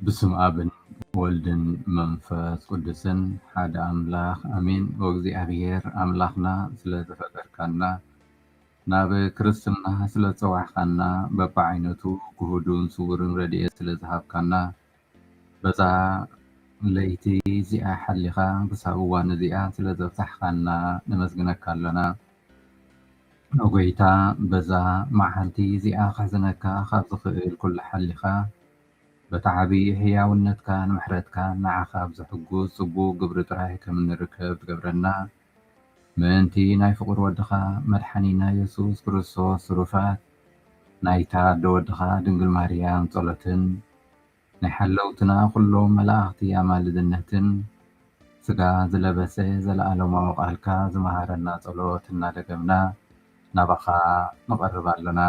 ብስም ኣብን ወልድን መንፈስ ቅዱስን ሓደ ኣምላኽ ኣሜን። ወእግዚኣብሔር ኣምላኽና ስለ ዝፈጠርካና ናብ ክርስትና ስለዝጸዋዕካና በብዓይነቱ ግሁዱን ስዉርን ረድኤት ስለዝሃብካና በዛ ለይቲ እዚኣ ሓሊኻ ክሳብ እዋን እዚኣ ስለዘብጻሕካና ነመስግነካ ኣሎና። ን ጎይታ በዛ መዓልቲ እዚኣ ከሕዝነካ ካብ ዝኽእል ኩሉ ሓሊኻ በቲ ዓብዪ ሕያውነትካን ምሕረትካን ንዓኻ ብዘሕጉስ ጽቡቕ ግብሪ ጥራይ ከም እንርከብ ትገብረና። ምእንቲ ናይ ፍቁር ወድኻ መድሓኒና የሱስ ክርስቶስ ትሩፋት ናይታ ኣደ ወድኻ ድንግል ማርያም ጸሎትን ናይ ሓለውትና ኩሎም መላእኽቲ ኣማልድነትን ስጋ ዝለበሰ ዘለኣለማዊ ቃልካ ዝመሃረና ጸሎት እናደገምና ናባኻ ንቐርብ ኣሎና።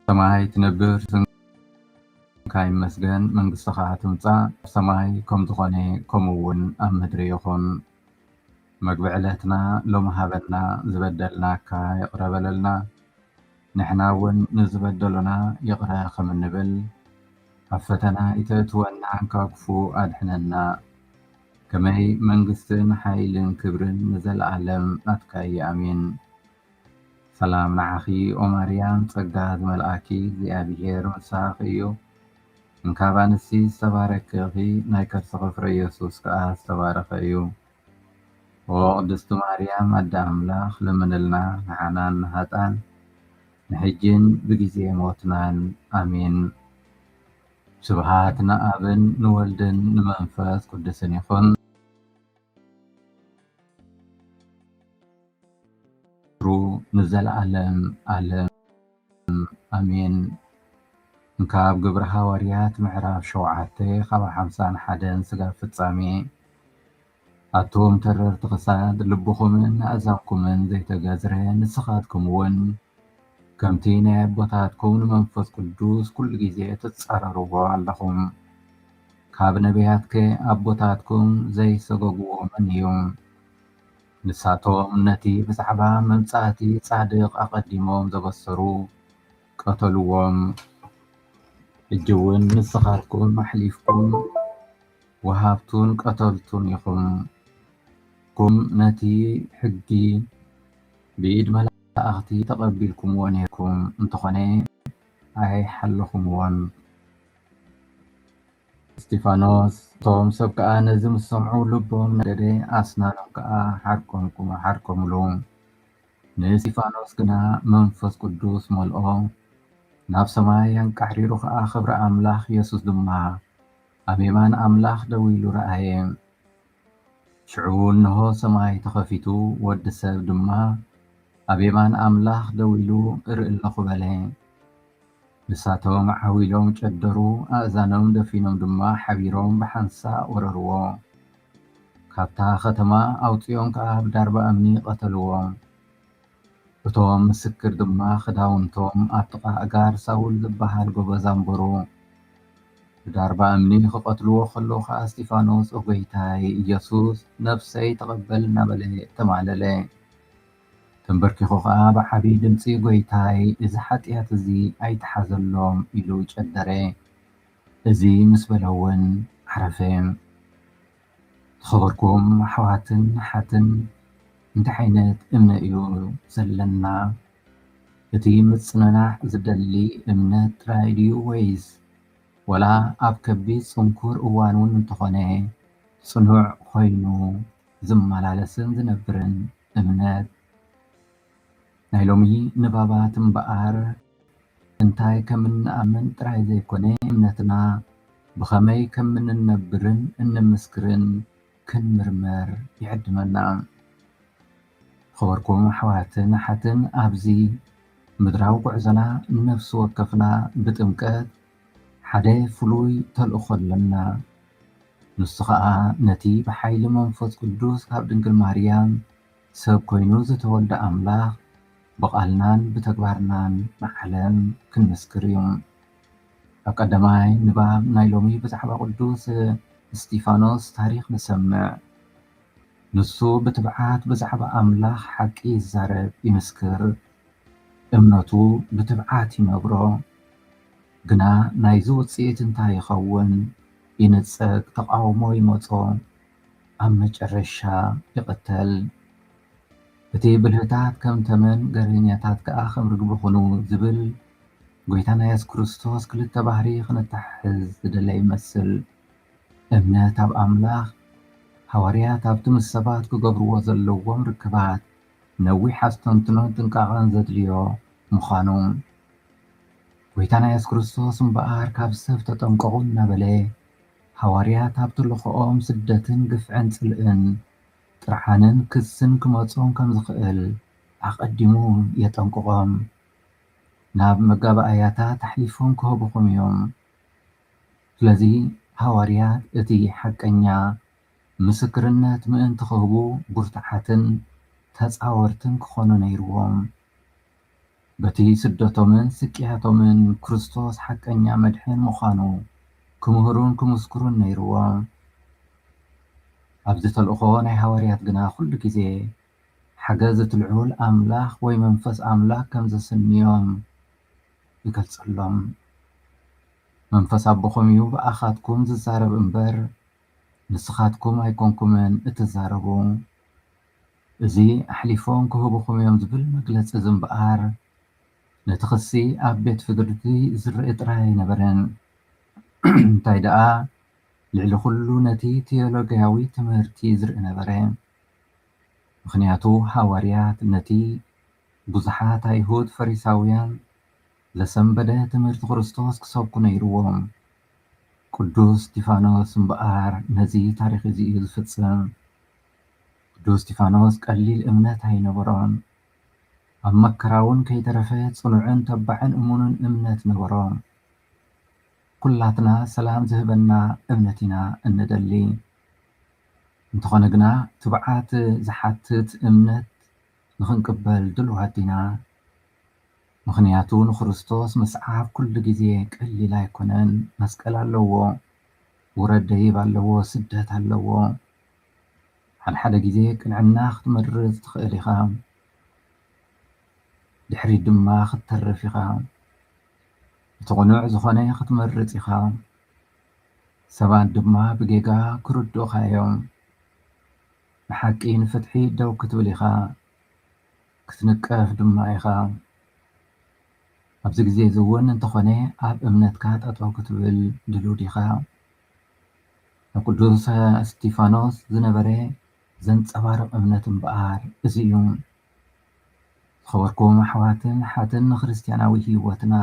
ሰማይ ትነብር ስምካ ይመስገን መንግስትኻ ትምፃእ ሰማይ ከም ዝኾነ ከምኡ እውን ኣብ ምድሪ ይኹን መግቢ ዕለትና ሎሚ ሃበና ዝበደልናካ ይቕረ በለልና ንሕና እውን ንዝበደሉና ይቕረ ከም እንብል ኣብ ፈተና ይተእትወና ካብ ክፉ ኣድሕነና ከመይ መንግስትን ሓይልን ክብርን ንዘለኣለም ናትካ እዩ ኣሜን ሰላም ንዓኺ ኦም ኣርያም ጸጋ ዝመልኣኪ እግዚኣብሄር ምሳኺ እዩ እንካብ ኣንስቲ ዝተባረኪ ኢኺ ናይ ከርስኺ ፍረ ኢየሱስ ከኣ ዝተባረኸ እዩ ኦ ቅድስቲ ማርያም ኣደ ኣምላኽ ለምንልና ንዓናን ንሃጣን ንሕጂን ብግዜ ሞትናን ኣሜን ስብሃት ንኣብን ንወልድን ንመንፈስ ቅዱስን ይኹን። ንዘለኣለም ኣለም ኣሜን። ካብ ግብሪ ሃዋርያት ምዕራፍ ሸውዓተ ካብ ሓምሳን ሓደን ስጋብ ፍጻሜ ኣቱም ተረርቲ ክሳድ ልብኹምን ኣእዛንኩምን ዘይተገዝረ ንስኻትኩም እውን ከምቲ ናይ ኣቦታትኩም ንመንፈስ ቅዱስ ኩሉ ግዜ ትጻረርዎ ኣለኹም። ካብ ነቢያትከ ኣቦታትኩም ዘይሰገግዎ መን እዩ? ንሳቶም ነቲ ብዛዕባ መምጻእቲ ጻድቕ ኣቐዲሞም ዘበሰሩ ቀተልዎም። ሕጂውን ንስኻትኩም ኣሕሊፍኩም ወሃብቱን ቀተልቱን ኢኹም። ንስኩም ነቲ ሕጊ ብኢድ መላእኽቲ ተቐቢልኩምዎ ኔርኩም እንተኾነ ኣይሓለኹምዎን። እስጢፋኖስ፣ እቶም ሰብ ከኣ ነዚ ምስ ሰምዑ ልቦም ነደደ፣ ኣስናኖም ከኣ ሓርቆምሉ። ንእስጢፋኖስ ግና መንፈስ ቅዱስ መልኦ፣ ናብ ሰማይ ኣንቃሕሪሩ ኸኣ ኽብሪ ኣምላኽ፣ የሱስ ድማ ኣብ የማን ኣምላኽ ደው ኢሉ ረኣየ። ሽዑ እንሆ ሰማይ ተኸፊቱ፣ ወዲ ሰብ ድማ ኣብ የማን ኣምላኽ ደው ኢሉ እርኢ ኣሎኹ በለ። ንሳቶም ዓው ኢሎም ጨደሩ፣ ኣእዛኖም ደፊኖም ድማ ሓቢሮም ብሓንሳእ ወረርዎ። ካብታ ኸተማ ኣውጺኦም ከኣ ብዳርባ እምኒ ቐተልዎ። እቶም ምስክር ድማ ክዳውንቶም ኣብ ጥቓ ኣእጋር ሳውል ዚብሃል ጐበዝ ኣንበሩ። ብዳርባ እምኒ ኺቐትልዎ ኸለዉ ኸኣ እስጢፋኖስ፣ ኦ ጐይታይ ኢየሱስ፣ ነፍሰይ ተቐበል እናበለ ተማህለለ። ተምበርኪኹ ኸኣ ብዓብዪ ድምጺ፣ ጐይታይ፣ እዚ ሓጢኣት እዚ ኣይትሓዘሎም ኢሉ ጨደረ። እዚ ምስ በለ እውን ዓረፈ። ዝኸበርኩም ኣሕዋትን ኣሓትን እንታይ ዓይነት እምነ እዩ ዘለና? እቲ ምጽንናዕ ዝደሊ እምነት ጥራይ ድዩ ወይስ ወላ ኣብ ከቢድ ጽንኩር እዋን እውን እንተኾነ ጽኑዕ ኮይኑ ዝመላለስን ዝነብርን እምነት? ናይ ሎሚ ንባባት እምበኣር እንታይ ከም እንኣምን ጥራይ ዘይኮነ እምነትና ብኸመይ ከም እንነብርን እንምስክርን ክንምርምር ይዕድመና። ዝኸበርኩም ኣሕዋትን ኣሓትን ኣብዚ ምድራዊ ጉዕዞና ነፍሲ ወከፍና ብጥምቀት ሓደ ፍሉይ ተልእኾ ኣለና። ንሱ ኸኣ ነቲ ብሓይሊ መንፈስ ቅዱስ ካብ ድንግል ማርያም ሰብ ኮይኑ ዝተወልደ ኣምላኽ ብቓልናን ብተግባርናን ንዓለም ክንምስክር እዩ። ኣብ ቀዳማይ ንባብ ናይ ሎሚ ብዛዕባ ቅዱስ እስጢፋኖስ ታሪኽ ንሰምዕ። ንሱ ብትብዓት ብዛዕባ ኣምላኽ ሓቂ ይዛረብ፣ ይምስክር፣ እምነቱ ብትብዓት ይነግሮ። ግና ናይዚ ውጽኢት እንታይ ይኸውን? ይንጸግ፣ ተቓውሞ ይመጾ፣ ኣብ መጨረሻ ይቕተል። እቲ ብልህታት ከም ተመን ገርህኛታት ከኣ ከም ርግቢ ኹኑ ዝብል ጎይታና የሱስ ክርስቶስ ክልተ ባህሪ ክነተሓሕዝ ዝደለየ ይመስል። እምነት ኣብ ኣምላኽ ሃዋርያት ኣብቲ ምስ ሰባት ክገብርዎ ዘለዎም ርክባት ነዊሕ ኣስተንትኖን ጥንቃቐን ዘድልዮ ምዃኑ ጎይታና የሱስ ክርስቶስ እምበኣር ካብ ሰብ ተጠንቀቑ እናበለ ሃዋርያት ኣብ ተልእኾኦም ስደትን ግፍዕን ጽልእን ጥርዓንን ክስን ክመጾም ከም ዝኽእል ኣቐዲሙ የጠንቅቖም። ናብ መጋባእያታት ኣሕሊፎም ክህቡኹም እዮም። ስለዚ ሃዋርያት እቲ ሓቀኛ ምስክርነት ምእንቲ ክህቡ ብርቱዓትን ተጻወርትን ክዀኑ ነይርዎም። በቲ ስደቶምን ስቅያቶምን ክርስቶስ ሓቀኛ መድሕን ምዃኑ ክምህሩን ክምስክሩን ነይርዎም። ኣብዚ ተልእኾ ናይ ሃዋርያት ግና ኩሉ ግዜ ሓገዝ እቲ ልዑል ኣምላኽ ወይ መንፈስ ኣምላኽ ከም ዘስንዮም ይገልጸሎም። መንፈስ ኣቦኹም እዩ ብኣኻትኩም ዝዛረብ እምበር ንስኻትኩም ኣይኮንኩምን እትዛረቡ። እዚ ኣሕሊፎም ክህቡኹም እዮም ዝብል መግለጺ ዝምበኣር ነቲ ክሲ ኣብ ቤት ፍርዲ ዝርእ ጥራይ ኣይነበረን። እንታይ ደኣ ልዕሊ ኩሉ ነቲ ቲዮሎጊያዊ ትምህርቲ ዝርእ ነበረ። ምኽንያቱ ሃዋርያት ነቲ ብዙሓት ኣይሁድ ፈሪሳውያን ዘሰንበደ ትምህርቲ ክርስቶስ ክሰብኩ ነይርዎም። ቅዱስ እስጢፋኖስ እምበኣር ነዚ ታሪኽ እዚ እዩ ዝፍጽም። ቅዱስ እስጢፋኖስ ቀሊል እምነት ኣይነበሮን። ኣብ መከራውን ከይተረፈ ጽኑዕን ተባዕን እሙንን እምነት ነበሮ። ኩላትና ሰላም ዝህበና እምነት ኢና እንደሊ። እንተኾነ ግና ትብዓት ዝሓትት እምነት ንኽንቅበል ድሉዋት ዲና? ምኽንያቱ ንክርስቶስ ምስዓብ ኩሉ ግዜ ቀሊል ኣይኮነን። መስቀል ኣለዎ፣ ውረድ ደይብ ኣለዎ፣ ስደት ኣለዎ፣ ሓድሓደ ግዜ ቅንዕና ክትመርጽ ትኽእል ኢኻ፣ ድሕሪት ድማ ክትተርፍ ኢኻ። እቲ ቅኑዕ ዝኾነ ክትመርጽ ኢኻ፣ ሰባት ድማ ብጌጋ ክርድኡኻ እዮም። ንሓቂ ንፍትሒ ደው ክትብል ኢኻ፣ ክትንቀፍ ድማ ኢኻ። ኣብዚ ግዜ እዚ እውን እንተኾነ ኣብ እምነትካ ጠጠው ክትብል ድሉው ዲኻ? ንቅዱስ እስጢፋኖስ ዝነበረ ዘንጸባርቕ እምነት እምበኣር እዚ እዩ። ዝኸበርኩም ኣሕዋትን ኣሓትን ንክርስትያናዊ ሕይወትና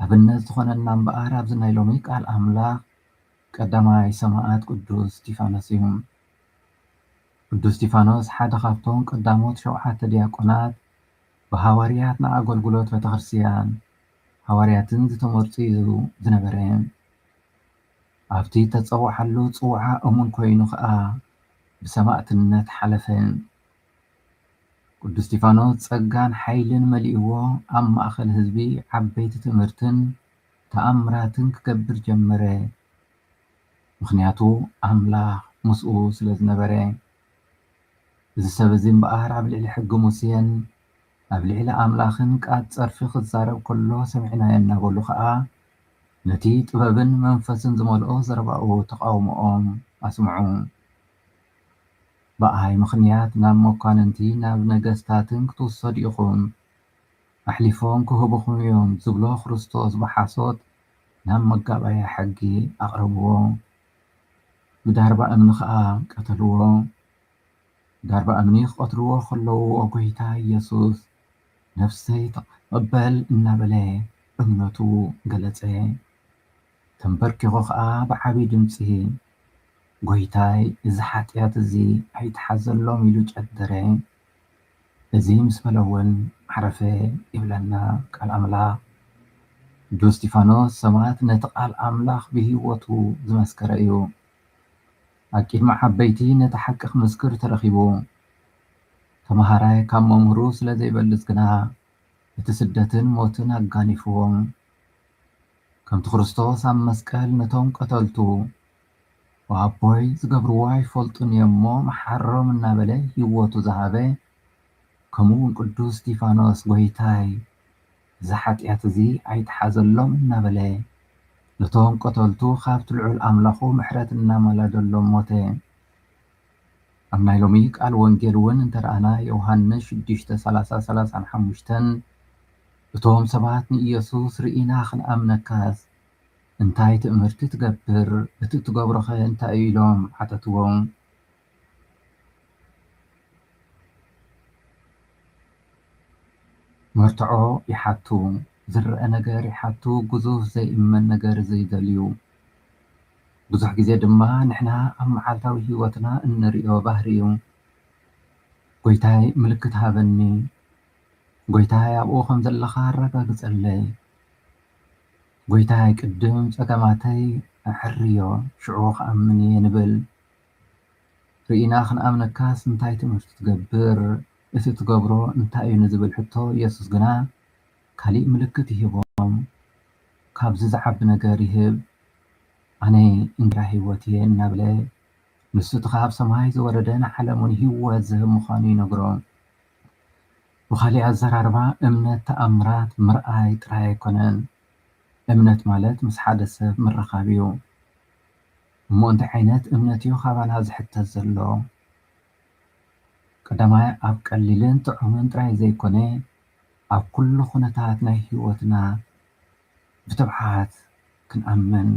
ኣብነት ዝኾነና እምበኣር ኣብዚ ናይ ሎሚ ቃል ኣምላኽ ቀዳማይ ሰማዕት ቅዱስ እስጢፋኖስ እዩ። ቅዱስ እስጢፋኖስ ሓደ ካብቶም ቀዳሞት ሸውዓተ ዲያቆናት ብሃዋርያት ንኣገልግሎት ቤተክርስትያን ሃዋርያትን ዝተመርጹ እዩ ዝነበረ። ኣብቲ እተጸውዓሉ ጽውዓ እሙን ኰይኑ ኸኣ ብሰማእትነት ሓለፈ። ቅዱስ እስጢፋኖስ ጸጋን ሓይልን መሊእዎ ኣብ ማእከል ህዝቢ ዓበይቲ ትእምርትን ተኣምራትን ክገብር ጀመረ፣ ምኽንያቱ ኣምላኽ ምስኡ ስለ ዝነበረ። እዚ ሰብ እዚ እምበኣር ኣብ ልዕሊ ሕጊ ሙሴን ኣብ ልዕሊ ኣምላኽን ቃል ጸርፊ ክዛረብ ከሎ ሰሚዕናዮ እናበሉ ከኣ ነቲ ጥበብን መንፈስን ዝመልኦ ዘረባኡ ተቓውሞኦም ኣስምዑ። ብኣይ ምኽንያት ናብ መኳንንቲ ናብ ነገስታትን ክትውሰዱ ኢኹም፣ ኣሕሊፎም ክህቡኹም እዮም ዝብሎ ክርስቶስ ብሓሶት ናብ መጋባእያ ሕጊ ኣቕረብዎ፣ ብዳርባ እምኒ ከኣ ቀተልዎ። ዳርባ እምኒ ክቀትልዎ ከለዉ ኦ ጎይታ ኢየሱስ ነፍሰይ ተቀበል እናበለ እምነቱ ገለጸ ተምበርኪኹ ከኣ ብዓቢ ድምጺ ጎይታይ እዚ ሓጥያት እዚ ኣይትሓዘሎም ኢሉ ጨደረ እዚ ምስ በለ ውን ዓረፈ ይብለና ቃል ኣምላኽ ቅዱስ እስጢፋኖስ ሰማእት ነቲ ቃል ኣምላኽ ብህይወቱ ዝመስከረ እዩ። ኣብ ቂድሚ ዓበይቲ ነቲ ሓቂ ክምስክር ተረኪቡ። ተመሃራይ ካብ መምህሩ ስለ ዘይበልጽ ግና እቲ ስደትን ሞትን ኣጋኒፍዎ። ከምቲ ክርስቶስ ኣብ መስቀል ነቶም ቀተልቱ ብ ኣቦይ ዝገብርዎ ኣይፈልጡን እዮም እሞ መሓሮም እናበለ ህይወቱ ዝሃበ ከምኡ ውን ቅዱስ እስጢፋኖስ ጎይታይ! እዚ ሓጢኣት እዚ ኣይትሓዘሎም እናበለ ነቶም ቀተልቱ ካብቲ ልዑል ኣምላኹ ምሕረት እናማላደሎም ሞተ። ኣብ ናይ ሎሚ ቃል ወንጌል እውን እንተረኣና ዮውሃንስ ሽዱሽተ ሰላሳ ሰላሳን ሓሙሽተን እቶም ሰባት ንኢየሱስ ርኢና ክንኣምነካስ እንታይ ትእምርቲ ትገብር እቲ እትገብሮኸ እንታይ እዩ ኢሎም ሓተትዎ። መርትዖ ይሓቱ ዝረኣ ነገር ይሓቱ ግዙፍ ዘይእመን ነገር ዘይደልዩ ብዙሕ ግዜ ድማ ንሕና ኣብ መዓልታዊ ሂወትና እንሪኦ ባህሪ እዩ ጎይታይ ምልክት ሃበኒ ጎይታይ ኣብኡ ከም ዘለኻ ኣረጋግፀለይ ጎይታይ ቅድም ፀገማተይ ኣዐርዮ ሽዑ ክኣምን እየ ንብል። ርኢና ክንኣምነካስ እንታይ ትምህርቲ ትገብር? እቲ ትገብሮ እንታይ እዩ ንዝብል ሕቶ የሱስ ግና ካልእ ምልክት ይህቦም። ካብዚ ዝዓቢ ነገር ይህብ፣ ኣነ እንጀራ ህይወት እየ እናበለ ንሱ እቲ ኻብ ሰማይ ዝወረደ ንዓለም እውን ህይወት ዝህብ ምዃኑ ይነግሮም። ብኻልእ ኣዘራርባ እምነት ተኣምራት ምርኣይ ጥራይ ኣይኰነን። እምነት ማለት ምስ ሓደ ሰብ ምርኻብ እዩ። እሞ እንታይ ዓይነት እምነት እዩ ካባና ዝሕተት ዘሎ? ቀዳማይ ኣብ ቀሊልን ጥዑምን ጥራይ ዘይኮነ ኣብ ኩሉ ኩነታት ናይ ሕይወትና ብትብዓት ክንኣምን።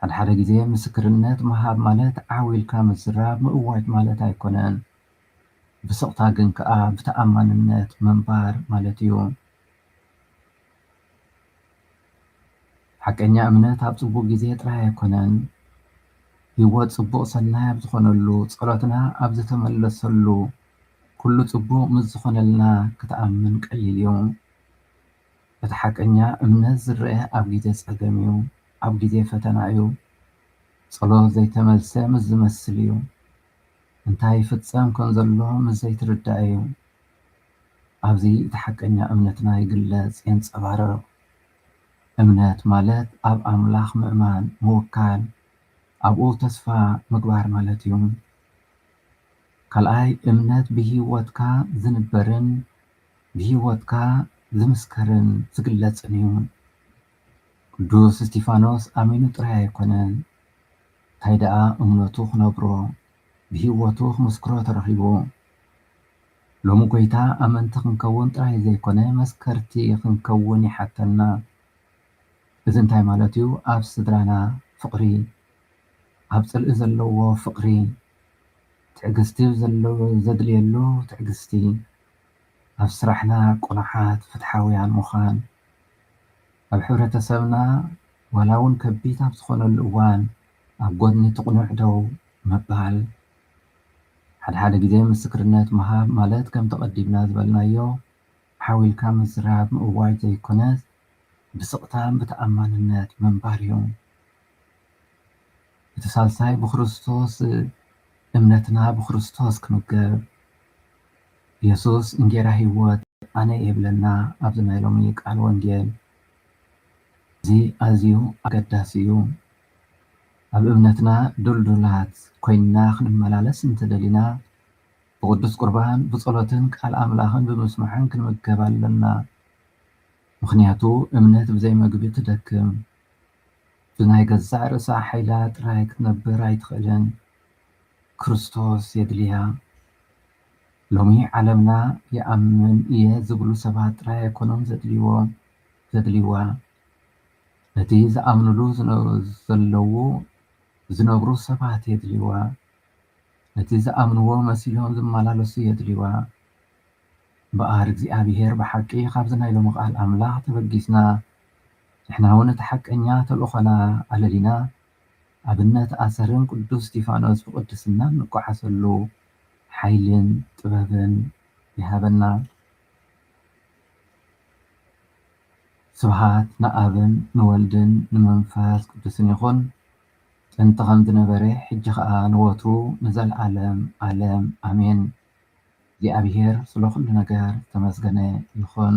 ሓደ ሓደ ግዜ ምስክርነት ምሃብ ማለት ዓው ኢልካ ምዝራብ ምእዋጅ ማለት ኣይኮነን። ብስቕታ ግን ከኣ ብተኣማንነት ምንባር ማለት እዩ። ሓቀኛ እምነት ኣብ ጽቡቕ ግዜ ጥራይ ኣይኮነን፣ ህይወት ጽቡቕ ሰናይ ኣብ ዝኾነሉ፣ ጸሎትና ኣብ ዝተመለሰሉ፣ ኩሉ ጽቡቕ ምስ ዝኾነልና ክትኣምን ቀሊል እዩ። እቲ ሓቀኛ እምነት ዝረኣ ኣብ ግዜ ጸገም እዩ፣ ኣብ ግዜ ፈተና እዩ፣ ጸሎት ዘይተመልሰ ምስ ዝመስል እዩ፣ እንታይ ይፍጸም ከምዘሎ ምስ ዘይትርዳእ እዩ። ኣብዚ እቲ ሓቀኛ እምነትና ይግለጽ፣ የንጸባርቕ። እምነት ማለት ኣብ ኣምላኽ ምእማን፣ ምውካል፣ ኣብኡ ተስፋ ምግባር ማለት እዩ። ካልኣይ፣ እምነት ብህይወትካ ዝንበርን ብህይወትካ ዝምስከርን ዝግለጽን እዩ። ቅዱስ እስጢፋኖስ ኣሚኑ ጥራይ ኣይኮነን፣ እንታይ ደኣ እምነቱ ክነብሮ ብህይወቱ ክምስክሮ ተረኺቡ። ሎሚ ጐይታ ኣመንቲ ክንከውን ጥራይ ዘይኰነ መስከርቲ ክንከውን ይሓተና። እዚ እንታይ ማለት እዩ? ኣብ ስድራና ፍቕሪ፣ ኣብ ጽልኢ ዘለዎ ፍቕሪ፣ ትዕግስቲ ኣብ ዘድልየሉ ትዕግስቲ፣ ኣብ ስራሕና ቅኑዓት፣ ፍትሓውያን ምዃን፣ ኣብ ሕብረተሰብና ዋላ እውን ከቢድ ኣብ ዝኾነሉ እዋን ኣብ ጎድኒ እቲ ቅኑዕ ደው ምባል፣ ሓደ ሓደ ግዜ ምስክርነት ምሃብ ማለት ከምቲ ቀዲምና ዝበልናዮ ሓው ኢልካ ምዝራብ ምእዋጅ ዘይኮነስ ብስቕታን ብተኣማንነት ምንባር እዩ። እቲ ሳልሳይ ብክርስቶስ እምነትና ብክርስቶስ ክምገብ፣ የሱስ እንጌራ ህይወት ኣነ እየ ይብለና። ኣብዚ ናይ ሎሚ ቃል ወንጌል እዚ ኣዝዩ ኣገዳሲ እዩ። ኣብ እምነትና ድልዱላት ኮይንና ክንመላለስ እንተ ደሊና ብቅዱስ ቁርባን ብጸሎትን ቃል ኣምላኽን ብምስማዕን ክንምገብ ኣለና። ምኽንያቱ እምነት ብዘይ መግቢ ትደክም። ብናይ ገዛእ ርእሳ ሓይላ ጥራይ ክትነብር ኣይትኽእልን። ክርስቶስ የድልያ። ሎሚ ዓለምና ይኣምን እየ ዝብሉ ሰባት ጥራይ ኣይኮኑን ዘድልይዎም፣ ዘድልይዋ። ነቲ ዝኣምኑሉ ዘለዉ ዝነብሩ ሰባት የድልይዋ። ነቲ ዝኣምንዎ መሲሎም ዝመላለሱ የድልይዋ። እምበኣር እግዚኣብሄር ብሓቂ ካብዚ ናይ ሎሚ ቃል ኣምላኽ ተበጊስና ንሕናውን እቲ ሓቀኛ ተልእኾና ኣለሊና ኣብነት ኣሰርን ቅዱስ እስጢፋኖስ ብቅድስና እንጓዓዘሉ ሓይልን ጥበብን ይሃበና ስብሓት ንኣብን ንወልድን ንመንፈስ ቅዱስን ይኹን ጥንቲ ከም ዝነበረ ሕጂ ከኣ ንወትሩ ንዘልኣለም ኣለም ኣሜን እግዚኣብሔር ስለ ኩሉ ነገር ዝተመስገነ ይኹን።